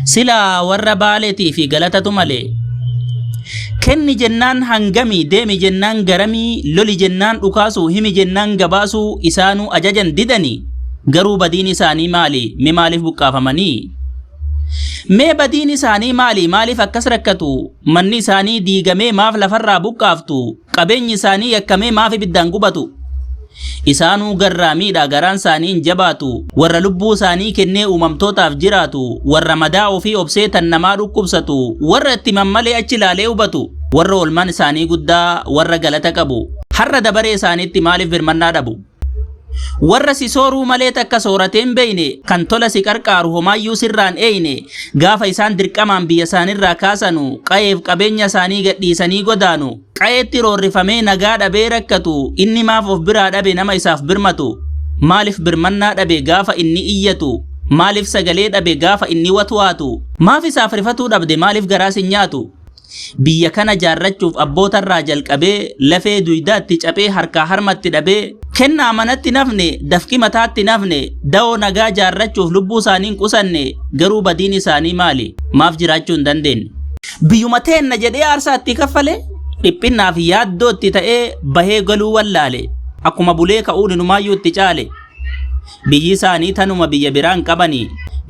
Silaa warra baaleetii fi galatatu malee. Kenni jennaan hangamii, deemi jennaan garamii, loli jennaan dhukaasuu, himi jennaan gabaasuu isaanuu ajajan didanii garuu badiin isaanii maali? Mee maaliif buqqaafamanii? Mee badiin isaanii maali? Maaliif akkas rakkatu? Manni isaanii diigamee maaf lafarraa buqqaaftu? Qabeenyi isaanii yakkamee maaf ibiddaan gubatu? Isaanuu garraamiidha, garaan isaanii hin jabaatu. Warra lubbuu isaanii kennee uumamtootaaf jiraatu, warra madaa ofii obsee tan namaa dhukkubsatu, warra itti mammalee achi ilaalee hubatu, warra oolmaan isaanii guddaa, warra galata qabu. Har'a dabaree isaaniitti maaliif birmannaa dhabu? Warra si sooruu malee takka sooratee hin beeyne, kan tola si qarqaaru homaayyuu sirraa hin eeyne, gaafa isaan dirqamaan biyya isaanirraa kaasanu, qayeef qabeenya isaanii gadhiisanii godaanu, qayeetti roorrifamee nagaa dhabee rakkatu, inni maaf of biraa dhabe nama isaaf birmatu? Maalif birmannaa dhabe gaafa inni iyyatu? Maalif sagalee dhabe gaafa inni watwaatu? Maaf isaaf rifatuu dhabde maalif garaa si nyaatu? Biyya kana jaarrachuuf abbootarraa jalqabee lafee duydaatti caphee harkaa harmatti dhabee kennaa manatti hin hafne dafqi mataatti hin hafne dawoo nagaa jaarrachuuf lubbuusaanii hin qusanne garuu badiin isaanii maali maaf jiraachuu hin dandeenye. Biyyuma teenna jedhee aarsaa itti kaffale dhiphinnaaf yaaddoo itti ta'ee bahee galuu wallaale akkuma bulee ka'uun inumaayyuu itti caale. Biyyi isaanii tanuma biyya biraa hin qabani.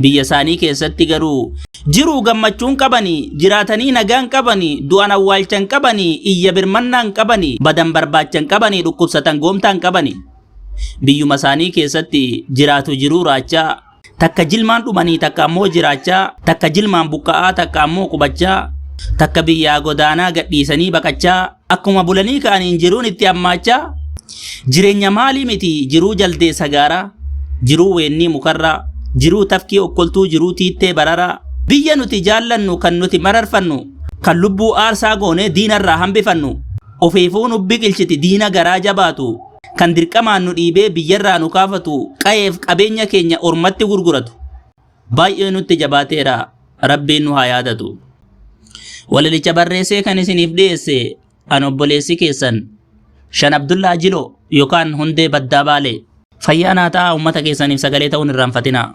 Biyya isaanii keessatti garuu jiruu gammachuu hin qabani, jiraatanii nagaa hin qabani, du'an awwaalcha hin qabani, iyya birmannaa hin qabani, badan barbaacha hin qabani, dhukkubsatan goomtaa hin qabani. Biyyuma isaanii keessatti jiraatu jiruu raachaa Takka jilmaan dhumanii takka ammoo jiraachaa, takka jilmaan buqqa'aa takka ammoo qubachaa, takka biyyaa godaanaa gadhiisanii baqachaa, akkuma bulanii ka'aniin jiruun itti hammaachaa, jireenya maalii miti jiruu jaldee sagaaraa, jiruu weennii mukarraa, jiruu tafkii okkoltuu, jiruu tiittee bararaa, biyya nuti jaallannu kan nuti mararfannu, kan lubbuu aarsaa goonee diinarraa hambifannu, ofiifuu nu biqilchiti diina garaa jabaatu, kan dirqamaan nu dhiibee biyyarraa nu kaafatu, qayeef qabeenya keenya ormatti gurguratu baay'ee nutti jabaateera rabbiin nu haa yaadatu. Walalicha barreessee kan isiniif dhiyeesse an obboleessi keessan Shan Abdullaa Jiloo yookaan Hundee Baddaa Baalee. Fayyaa naa ta'aa uummata keessaniif sagalee ta'uun irraanfatinaa.